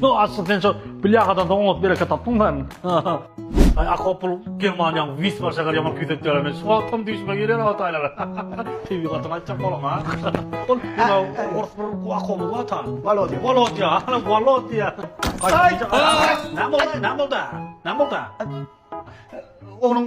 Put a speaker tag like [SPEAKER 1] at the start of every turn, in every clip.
[SPEAKER 1] No asy sen şu
[SPEAKER 2] bilýagadan soň oňat bereket tapdyň sen. Ay akopul Germaniýaň wis bar şäher ýaman küýsekler men şu wagtam düýşüme girýär o taýlara. Tebi gatyň aýtjak bolan ha. Ol ýa ors bir ku akopul wata. Walodýa. Walodýa. Ana Walodýa. Ay! Näme boldy? Näme boldy? Näme boldy?
[SPEAKER 1] Onuň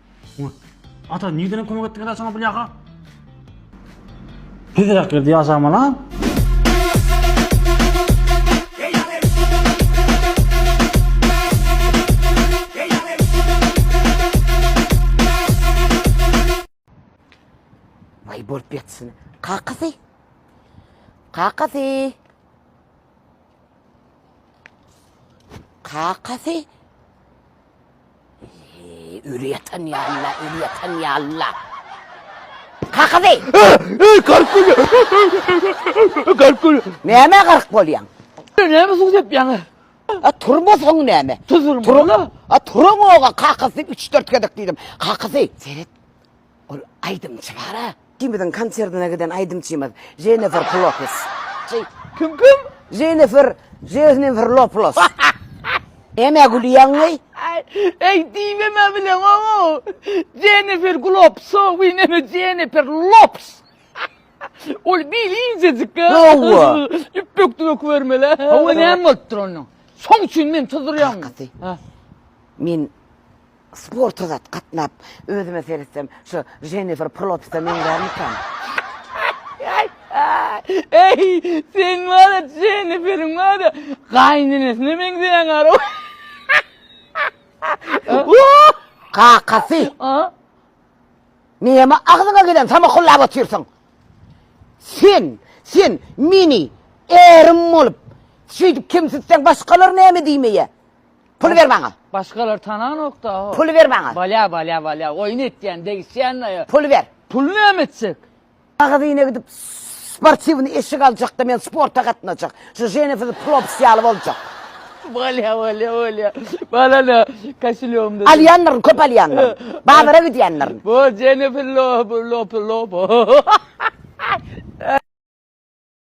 [SPEAKER 2] Ata, nirden kömek etdiň ata saňa bulýaka? Tezräk girdi ýaşaman ha?
[SPEAKER 3] Vay bolup geçsin. Kakasy. Kakasy. Kakasy Ölü yatan ya Allah, ölü yatan ya Allah. Kakasy! Gark gülü!
[SPEAKER 4] Gark gülü! Neme gark
[SPEAKER 3] bolyan? Neme su dep
[SPEAKER 4] yana? A turma son
[SPEAKER 3] neme? Tuzulma. Turma.
[SPEAKER 4] A turun
[SPEAKER 3] oğa kakasy 3-4 gedek dedim. Kakasy. Seret. Ol aýdymçy bar-a. Ikimiziň konsertine giden aýdymçymyz Jennifer Plokus. Çy, kim
[SPEAKER 4] kim? Jennifer,
[SPEAKER 3] Jeznifer Loplos. Nämä gülýäňeý? Eý,
[SPEAKER 4] diýibem-ä bileňow-ow. Jennifer Glopso, wi näme Jennifer Lops. Ol bil injejik-ä. Hawa.
[SPEAKER 3] Ýüpek döwek
[SPEAKER 4] bermeli-ä. Hawa, näme bolupdyr onuň? Şoň üçin meni tyzdyrýaňmy? Kakasy. Hä.
[SPEAKER 3] Men Sporta zat gatnap özüme seretsem şu Jennifer Plotsa meňzärmikam.
[SPEAKER 4] Eý sen wada Jenniferiň wada gaýynenesine meňzeýäň ara.
[SPEAKER 3] Kakasy. Näme agzyňa gelen samakullap otyrsyň. Sen, sen meni ärim bolup şeýdip kemsitseň başgalar näme diýmeýä. Pul ber maňa. Başgalar tananokda
[SPEAKER 4] ho. Pul ber maňa. Balya
[SPEAKER 3] balya balya oýun
[SPEAKER 4] etýän degişýän aýa. Pul ber. Pul näme
[SPEAKER 3] etjek?
[SPEAKER 4] Magazyna gidip
[SPEAKER 3] sportiwny eşik aljakda men sporta gatnajak. Şu Jennifer Plops ýaly boljak. Balya balya
[SPEAKER 4] balya. Balana kaşilýomda. Alýanlaryň köp alýanlar.
[SPEAKER 3] Bazara gidýänler.
[SPEAKER 4] Bo Jennifer
[SPEAKER 3] Lop
[SPEAKER 4] Lop Lop.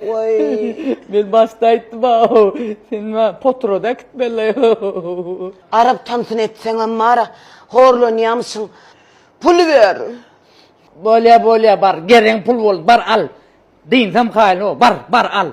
[SPEAKER 4] Men başda aýtdym aw. Sen ma potroda äkitmeli.
[SPEAKER 3] Arap tansyny etseňem bar, horlanýamyşyň. Pul ber. Bolýa
[SPEAKER 4] bolýa bar, geregiň pul boldy, bar al. Dynsam haýyl ho, bar, bar al.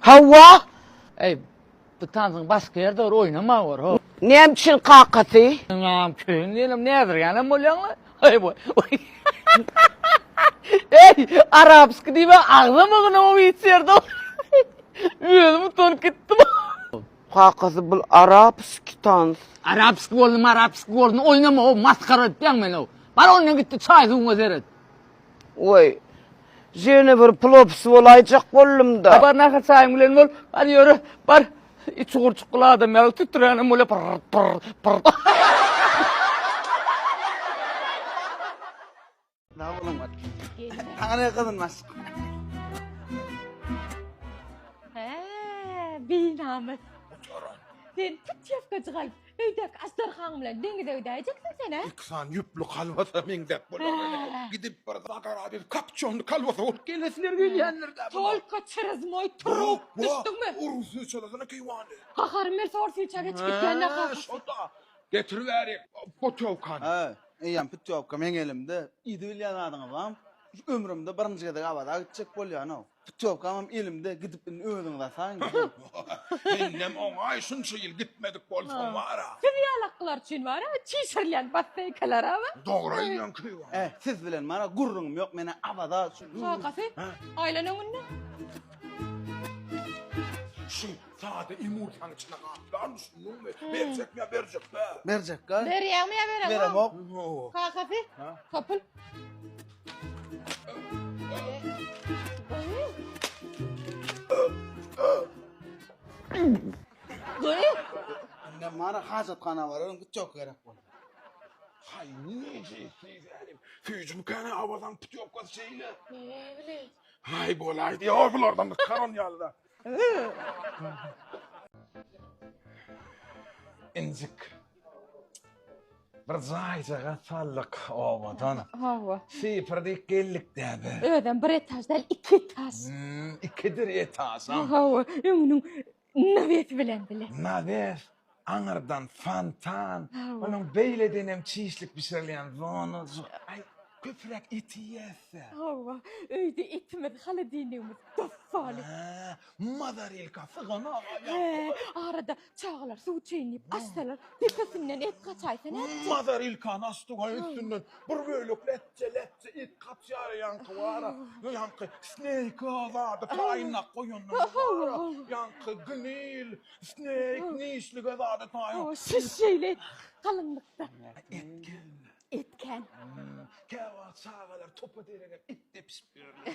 [SPEAKER 4] Hawa.
[SPEAKER 3] Eý,
[SPEAKER 4] bu tansyň başga ýerde bir oýnama bar, ho. Näme üçin kakasy?
[SPEAKER 3] Ynam, kyn
[SPEAKER 4] diýenem näzirgänem bolýaň-la. Eý, bu. Eý, arapsky diýme, agzam ýygnaw hiç ýerde. Özüm utanyp gitdim. Kakasy,
[SPEAKER 3] bul arapsky tans. Arapsky boldy,
[SPEAKER 4] marapsky boldy, oýnama, ho, masgara etýäň meni, ho. Bar ondan git-de çaý-suwuňa seret. Woý,
[SPEAKER 3] ýene bir plopis bolaýjak boldum-da. Bar, nahar çaýyň bilen
[SPEAKER 4] bol. Hany ýöre, bar. It çugurjykly adam ýaly tütüränem bolýar, pyrr-pyrr-pyrr. Sag
[SPEAKER 3] boluň, bar. Saňa ne gyzyn maşk? Hä,
[SPEAKER 5] binamys. Sen tut ýapgajyk alyp. Öýdäki astarhaň bilen deňize gidäýjeksin sen, hä? Iki sany ýüpli kalbasa
[SPEAKER 6] meňzäp bolar. Gidip bir Zagara bir kapçonly kalbasa bolup gelesiler gelýändir-dä. Tolko çyryz moý
[SPEAKER 5] trup, düşdüňmi? Ur syçalasana
[SPEAKER 6] keýwany. Haharym ýelse or
[SPEAKER 5] syça geçip gitýän-dä kakasy. Şonda
[SPEAKER 6] getir bärik putýowkany. Hä, eýýäm
[SPEAKER 7] putýowka meň elimde. Yzy bilýän zadyňyz barmy? Şu ömrümde birinji gezek Awaza gitjek bolýan-ow. Putýowkamam elimde, gidip indi özüňiz asaň. Indem
[SPEAKER 6] oňaý şunça ýyl gitmedik bolsaň bara. Siz ýalaklar üçin
[SPEAKER 5] bara çişirilýän basseýkalaraba. Dogry aýdýaň Keýwan.
[SPEAKER 6] Äý, siz bilen bara
[SPEAKER 7] gürrüňim ýok, men-ä Awaza üçin. Kakasy,
[SPEAKER 5] aýlan öňünden.
[SPEAKER 6] Şu sada ýumurtanyň içine gaplan düşündiňmi? Berjekmi ýa berjekmi? Berjekkä. Berýäňmi
[SPEAKER 7] ýa beremok?
[SPEAKER 5] Beremok.
[SPEAKER 7] Kakasy,
[SPEAKER 5] topul. Indem
[SPEAKER 7] mara hajathana bararyn, git ýok gerek bol. Hay
[SPEAKER 6] nece sizänim. Süýjüm kana awadan putýokasy şeýle. Nebili? Hay bolaýdy. Ýa bulardan karan ýaly da. Injik. Bir jaýjaga saldyk obadan. Hawa.
[SPEAKER 5] Sypyrdyk geldik
[SPEAKER 6] däbe. Özem bir etaž däl,
[SPEAKER 5] iki etaž. Hmm, ikidir
[SPEAKER 6] etažam. Hawa, öňüniň
[SPEAKER 5] nawesi bilen bile. Nawes.
[SPEAKER 6] Aňyrdan fontan, onuň beýledenem çişlik bişirilýän zonajy. Aý, köpräk et iýäs-dä. Hawa,
[SPEAKER 5] öýde etimiz, holodilnigimiz dos sali. Hä,
[SPEAKER 6] mozarilka syganok ýa. Hä, arada
[SPEAKER 5] çagalar suw içeýin diýip açsalar, depesinden et gaçaýsa nätjek? Mozarilkany
[SPEAKER 6] açdyk-a, üstünden bir bölek lätje-lätje et gaçýar-a, ýaňky bar-a, ýaňky sneýka zady paýnap goýanymyz bar-a, ýaňky gnil, Snake nişlige zada taýo. O şiş şeýle
[SPEAKER 5] galyňlykda. Etken. Etken.
[SPEAKER 6] Käwagt çagalar topa derege it depişip ýörler.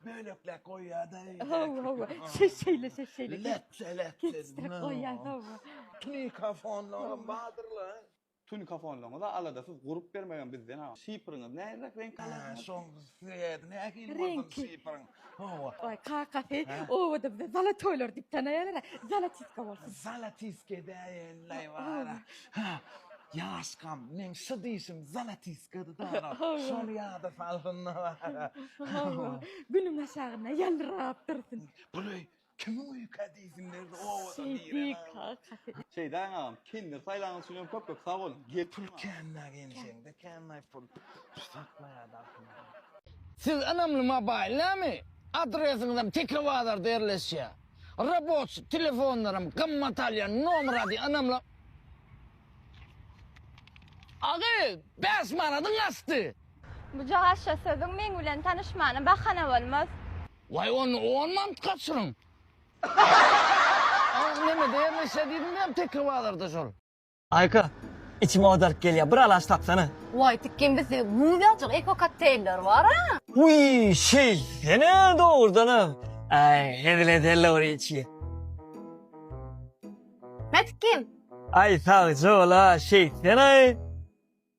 [SPEAKER 6] Bölekläp goýýada. Hawa, hawa. Şiş
[SPEAKER 5] şeýle, şiş şeýle. Lepçe,
[SPEAKER 6] lepçe. Kestirip
[SPEAKER 5] goýýar, hawa. Tunicafonlaram
[SPEAKER 6] bardyrlar. Tunikafonlaryňyza
[SPEAKER 7] aladasyz gurup bermegem bizden ha. Şifryňyz näzirek reňk alasyňyz. Şoň
[SPEAKER 6] sebäbi nähili bolsun
[SPEAKER 5] şifryň?
[SPEAKER 6] Hawa. Oý
[SPEAKER 5] kakasy obada bize zalatoýlar diýip tanaýarlar-a. Zalatiska bolsun. Zalatiska
[SPEAKER 6] edäýelilaý bara. Ha, ýaşkam, meň şu dişim zalatiskady-da ana. Şony ýada salsyn-da bara.
[SPEAKER 5] Günüň aşagynda ýalyrap dursun. Buly Kimiň
[SPEAKER 6] öýkä diýsin berdi owadan diýilen
[SPEAKER 5] agam.
[SPEAKER 6] Şeýdäň
[SPEAKER 5] agam
[SPEAKER 7] kender saýlanyňyz üçin hem köp köp sag boluň. Gel pul känna
[SPEAKER 6] gelişeňde
[SPEAKER 7] känna
[SPEAKER 6] pul saklaýa dahyňa.
[SPEAKER 4] Siz ynamly mobaýl näme? Adresiňizem teke bazarda ýerleşýä. Raboçi telefonlaram gymmat alýa nomer ady ynamly. Agy bäş manadyň aşdy. Buja gaşa
[SPEAKER 5] sözüň meň bilen tanyşmana bahana bolmaz. Way onda
[SPEAKER 4] on mant gaçyryň. A nemede ýerleşýär diýdim diýýäm tekir bazarda şol. Aýka,
[SPEAKER 8] içim owadark gelýär, bir alaç tapsana. Way tikgin bizde
[SPEAKER 5] guzajyk eko kokteýller bara. Wiý,
[SPEAKER 8] şeýtsene dogrudanam. Aý, hezil edeli bir içgi.
[SPEAKER 5] Hä tikgin. Aý
[SPEAKER 8] sagjol-a, şeýtsene-aý.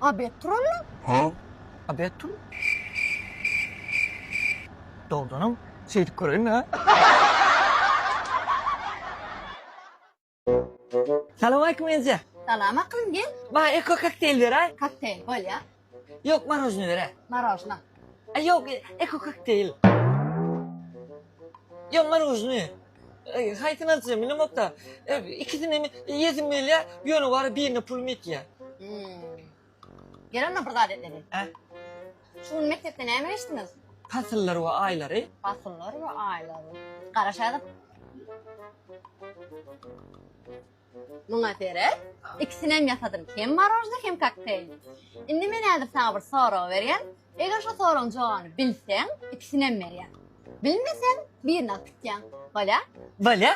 [SPEAKER 8] A bet
[SPEAKER 5] turallam. Ha? A bet tur.
[SPEAKER 8] Dogdanam şeýdip göreýin-le. Salowmaleýkim eje. Salam aklym gel.
[SPEAKER 5] Maňa eko kokteýl
[SPEAKER 8] beraý. Kokteýl bolýa.
[SPEAKER 5] Ýok marožny
[SPEAKER 8] beraý. Marožna.
[SPEAKER 5] Ýok
[SPEAKER 8] eko kokteýl. Ýaňlan ujyny haýsyny aljak bilemokda. Ikisini hem iýesim gelýär, ýöne wara birine pulum ýetýär.
[SPEAKER 5] Ýöne bir zat etmeli.
[SPEAKER 8] Şu gün
[SPEAKER 5] mekdepde näme geçdiňiz? Pasyllar we
[SPEAKER 8] aýlary. Pasyllar we
[SPEAKER 5] aýlary. Garaşaýdyk. Muňa seret, ikisinem ýasadym, hem marožny, hem kokteýlni. Indi men häzir saňa bir sorag berýän. Eger şo soragyň jogany bilseň, ikisinem berýän. Bilmeseň, birini alyp gitýäň. Bolýa? Bolýa.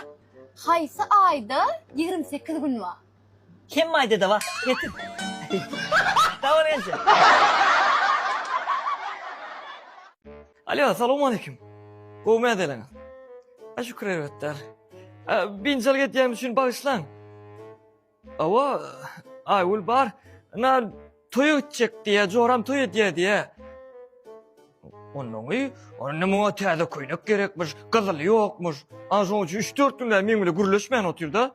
[SPEAKER 8] Haýsy
[SPEAKER 5] aýda ýigrimi sekiz gün bar? Hemme aýda-da
[SPEAKER 8] bar. Getir. Sag bol, ençe. Alýo, salowmaleýkim. Gowy mäzeleňiz. A şükür erbetde. Binjalyk etýänim üçin bagyşlaň. Awa, Aýgül bar. Na toýa gitjek diýýä, joram toý edýä diýýä. Onnoňy, onda muňa täze köýnek gerekmiş, gyzyly ýokmuş. Ana şoň üçin üç-dört günläp meň bilen gürleşmän otyrda.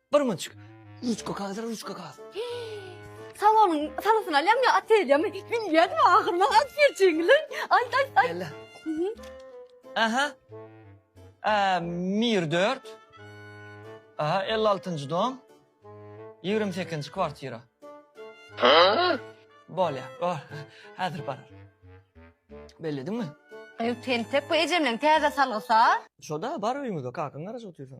[SPEAKER 8] Bir monçik. Ruçka kagaz, ruçka kagaz. Salonyň salosyn
[SPEAKER 5] alýam ýa otelýamy? Bilýän ahyryna alyp berjegiler. Ay ay ay. Ella.
[SPEAKER 8] Aha. A, Mir 4. Aha, 56-njy dom. 28-nji kwartira. Bolýar. Bol. Häzir barar. Bellediňmi?
[SPEAKER 5] Ew
[SPEAKER 8] tentek
[SPEAKER 5] bu ejemleň
[SPEAKER 8] täze salgysy-a.
[SPEAKER 5] Şo-da, bar
[SPEAKER 8] öýüňizde, kakaň
[SPEAKER 5] garaşyp
[SPEAKER 8] otyrsyň.